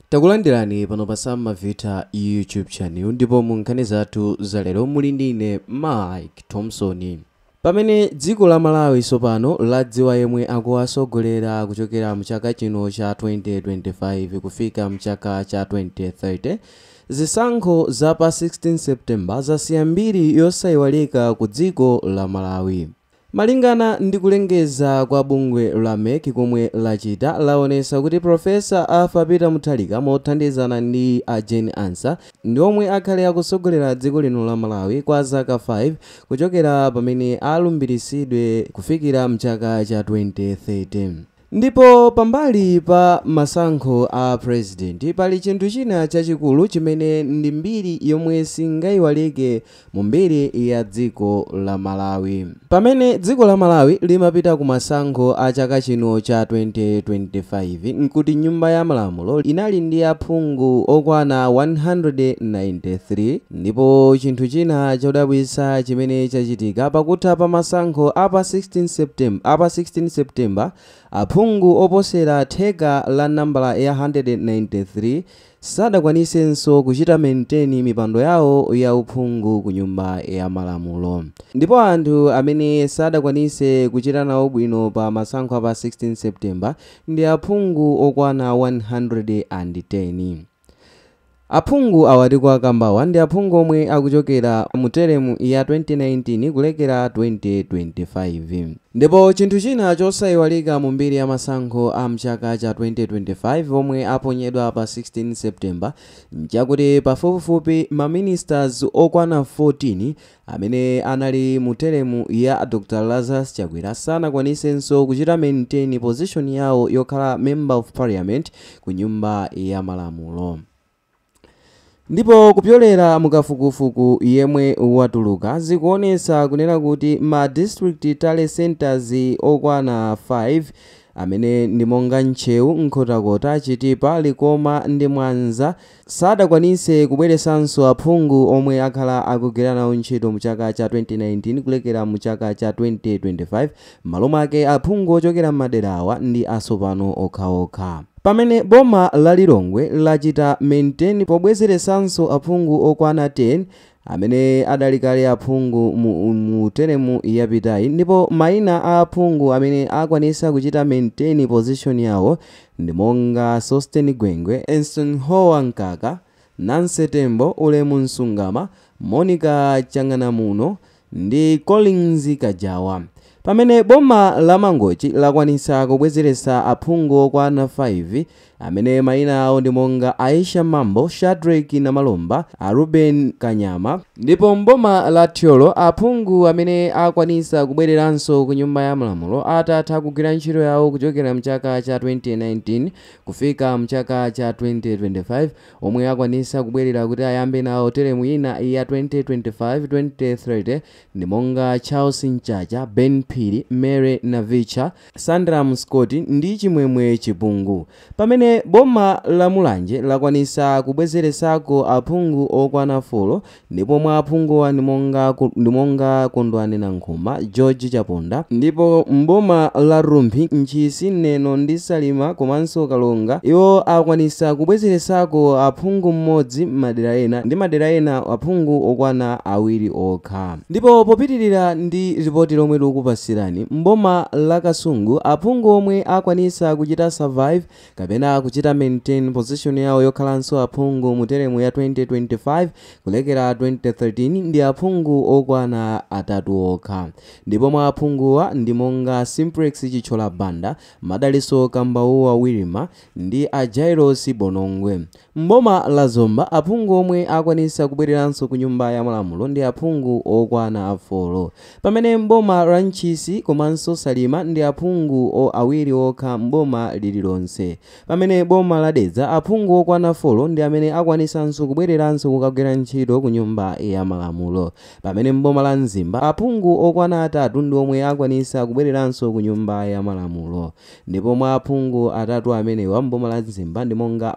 Takulandirani pano pa Sam Mavita YouTube channel ndipo mu nkhani zathu za lero muli ndi ine Mike Thompson. Pamene dziko la Malawi tsopano ladziwa yemwe akuwasogolera kuchokera mchaka chino cha 2025 kufika mchaka cha 2030, zisankho za pa 16 September zasiya mbiri yosaiwalika ku dziko la Malawi. Malingana ndi kulengeza kwa bungwe la MEC komwe lachita, laonesa kuti Professor Arthur Peter Mutharika mothandizana ndi a Jane Ansah ndi omwe akhale akusogolera dziko lino la Malawi kwa zaka 5 kuchokera pamene alumbiritsidwe kufikira mchaka cha 2030. Ndipo pambali pa masankho a Purezidenti, pali chinthu china chachikulu chimene ndi mbiri yomwe singayiwalike mu mbiri ya dziko la Malawi. Pamene dziko la Malawi limapita ku masankho a chaka chino cha 2025, nkuti Nyumba ya Malamulo inali ndi aphungu okwana 193, Ndipo chinthu china chodabwitsa chimene chachitika pakutha pa masankho a pa 16 September aphungu oposera theka la nambala ya 193 sadakwanisenso kuchita maintain mipando yawo ya uphungu ku nyumba ya malamulo. Ndipo anthu amene sadakwanise kuchita nawo bwino pa masankho a pa 16 September ndi aphungu okwana 110. Aphungu awa tikuwakambawa ndi aphungu omwe akuchokera mu teremu ya 2019 kulekera 2025. Ndipo chinthu china chosaiwalika mu mbiri ya masankho a mchaka cha 2025 omwe aponyedwa pa 16 September nchakuti pafupifupi ma ministers okwana 14 Amene anali mu teremu ya Dr Lazarus Chakwera sanakwanisenso kuchita maintain position yawo yokhala Member of Parliament ku nyumba ya malamulo. Ndipo kupyolera mu kafukufuku yemwe watuluka, zikuonetsa kunena kuti ma District Tally Centres okwana 5, amene ndi monga Ntcheu, Nkhotakota, Chitipa, Likoma ndi Mwanza, sadakwanise kubweresanso aphungu omwe akhala akugwira nawo ntchito mu chaka cha 2019 kulekera mu chaka cha 2025, m'malo mwake aphungu ochokera m'maderawa ndi asopano okhaokha. Pamene boma la Lilongwe lachita maintain pobwezeresanso aphungu okwana 10, amene adali kale aphungu mu teremu yapitayi ndipo maina a aphungu amene akwanisa kuchita maintain position yawo ndi monga Sosten Gwengwe, Eisenhower Mkaka, Nancy Tembo, Ulemu Msungama, Monica Chang'anamuno ndi Collins Kajawa. Pamene boma la Mangochi lakwanisa kubwezeresa aphungu okwana 5 amene maina awo ndi monga Aisha Mambo, Shadreck Namalomba, a Reuben Kanyama, ndipo m'boma la Thyolo aphungu amene akwanitsa kubwereranso ku Nyumba ya Malamulo atatha kugwira ntchito yawo kuchokera mchaka cha 2019 kufika mchaka cha 2025 omwe akwanitsa kubwerera kuti ayambe nawo telemu ina ya 2025-2030 ndi monga Charles Mchacha, Ben Phiri, Mary Navitcha, Sandram Scott ndi Chimwemwe Chipungu Pamene boma la Mulanje lakwanisa kubwezelesako aphungu okwana folo ndipo mwa aphunguwa ndi monga Kondwani Nankhumwa, George Chaponda ndipo m'boma la Rumphi, Ntchisi, Neno ndi Salima komanso Karonga iwo akwanisa kubwezelesako aphungu m'modzi m'madera ena ndi madera ena aphungu okwana awiri okha. Ndipo popitilira ndi lipoti lomwe tikupatsirani, m'boma la Kasungu aphungu omwe akwanitsa kuchita survive kapena kuchita maintain position yawo yokhalanso aphungu mu teremu ya 2025 kulekera 2013 ndi aphungu okwana atatu okha ndipo mwa aphunguwa ndi monga Simplex Chithyola Banda, Madalitso Kambauwa Wirima, ndi a Jailosi Bonongwe. M'boma la Zomba, aphungu omwe akwanitsa kubwereranso ku Nyumba ya Malamulo ndi aphungu okwana folo. Pamene m'boma la Ntchisi komanso Salima ndi aphungu awiri okha m'boma lililonse. Pamene boma la Dedza aphungu okwana folo ndi amene akwanitsanso kubwereranso kukagwira ntchito ku Nyumba ya Malamulo. Pamene m'boma la Mzimba aphungu okwana atatu ndi omwe akwanitsa kubwereranso ku Nyumba ya Malamulo. Ndipo mwa aphungu atatu amenewa m'boma la Mzimba ndi monga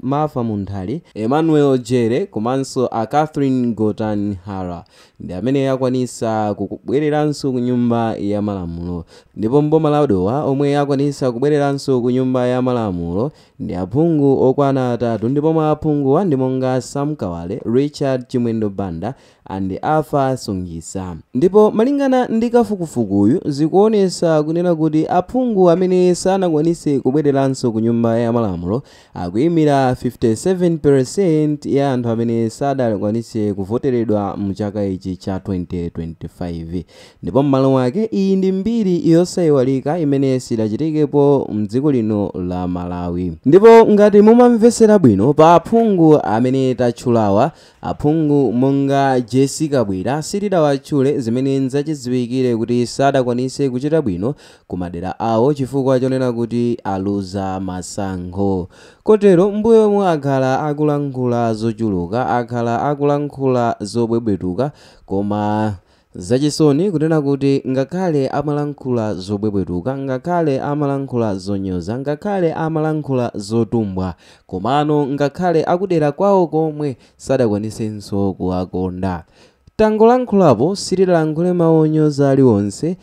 Martha Munthali, Emmanuel Jere komanso a Catherine Gotani Hara ndi amene akwanitsa kubwereranso ku nyumba ya malamulo ndipo m'boma la Dowa omwe akwanitsa kubwereranso ku nyumba ya malamulo ndi aphungu okwana atatu ndipo mwa aphunguwa ndi monga Sam Kawale, Richard Chimwendo Banda and Arthur Sungitsa. Ndipo malingana ndi kafukufukuyu zikuonesa kunena kuti aphungu amene sanakwanise kubwereranso ku nyumba ya malamulo akuimira 57% ya anthu amene sadakwanise kuvoteredwa mu chaka ichi cha 2025. Ndipo mmalo mwake iyi ndi mbiri yosaiwalika imene sidachitikepo mdziko lino la Malawi. Ndipo ngati mumamvesera bwino pa aphungu amene tatchulawa Aphungu monga Jessie Kabwila sitidawatchule zimene nzachidziwikire kuti sadakwanitse kuchita bwino ku madera awo chifukwa chonena kuti aluza masankho kotero mmbuyo omwe akhala akulankhula zochuluka akhala akulankhula zobwebwetuka koma Zachisoni kunena kuti, ngakhale amalankhula zobwebwetuka, ngakhale amalankhula zonyoza, ngakhale amalankhula zotumbwa, komano ngakhale akudera kwawo komwe sadakwanisenso kuwakonda. Tangolankhulapo, sitidalankhule mawu onyoza aliwonse,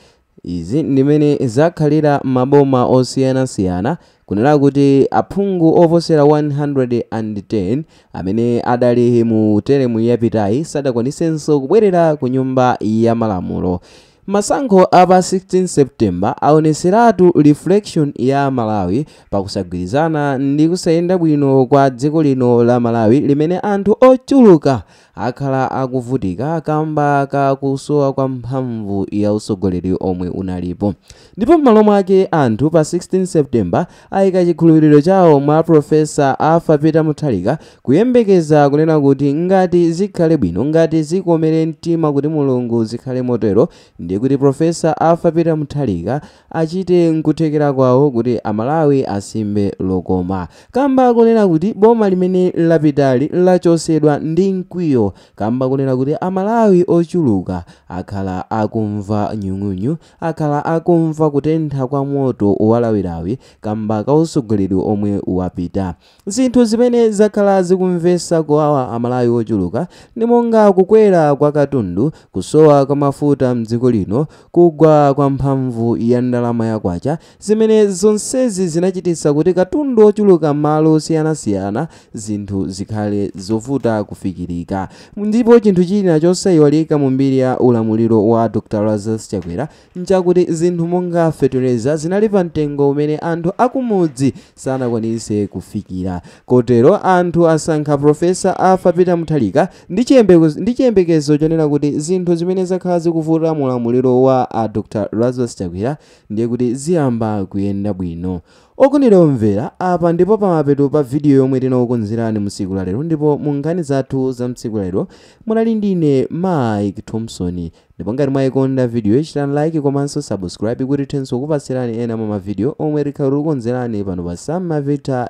Izi ndi zimene zakhalira m'maboma osiyanasiyana. Kunena kuti aphungu oposera 110 amene adali mu telemu yapitayi sadakwanisenso kubwerera ku Nyumba ya Malamulo. Masankho a pa 16 September aonetseratu reflection ya Malawi pa kusagwirizana ndi kusayenda bwino kwa dziko lino la Malawi limene anthu ochuluka akhala akuvutika kamba ka kusowa kwa mphamvu ya utsogoleri omwe unalipo ndipo m'malo mwake anthu pa 16 september ayika chikhulupiriro chawo mwa profesa arthur peter mutharika kuyembekeza kunena kuti ngati zikhale bwino ngati zikomere mtima kuti mulungu zikhale motero ndiye kuti profesa arthur peter mutharika achite nkuthekera kwawo kuti amalawi asimbe lokoma kamba kunena kuti boma limene lapitali lachosedwa ndi mkwiyo kamba kunena kuti amalawi ochuluka akhala akumva nyung'unyu akhala akumva kutentha kwa moto walawilawi kamba ka usogoleri omwe wapita Zinthu zimene zakhala zikumvesa kuwawa amalawi ochuluka ndi monga kukwera kwa katundu, kusowa kwa mafuta mdziko lino, kugwa kwa mphamvu ya ndalama ya kwacha zimene zonsezi zinachititsa kuti katundu ochuluka mmalo osiyanasiyana zinthu zikhale zovuta kufikirika. Ndipo chinthu china chosaiwalika mu mbiri ya ulamuliro wa Dr Lazarus Chakwera, nchakuti zinthu monga feteleza zinali pa mtengo umene anthu akumudzi sanakwanitse kufikira. Kotero anthu asankha Professor Arthur Peter Mutharika ndi chiyembekezo chonena kuti zinthu zimene zakhala zikuvuta mu ulamuliro wa a Dr. Lazarus Chakwera ndiye kuti ziyamba kuyenda bwino. Okondedwa omvera, apa ndipo pamapeto pa video yomwe tinakukonzerani mu tsiku la lero ndipo mu nkhani zathu za mtsiku la lero munali ndine Mike Thompson. ndipo ngati mwayikonda videoyi chitani like komanso subscribe kuti tithenso kukupatsirani ena mwa mavidiyo omwe tikhale tikukonzerani pano pa Sam Mavita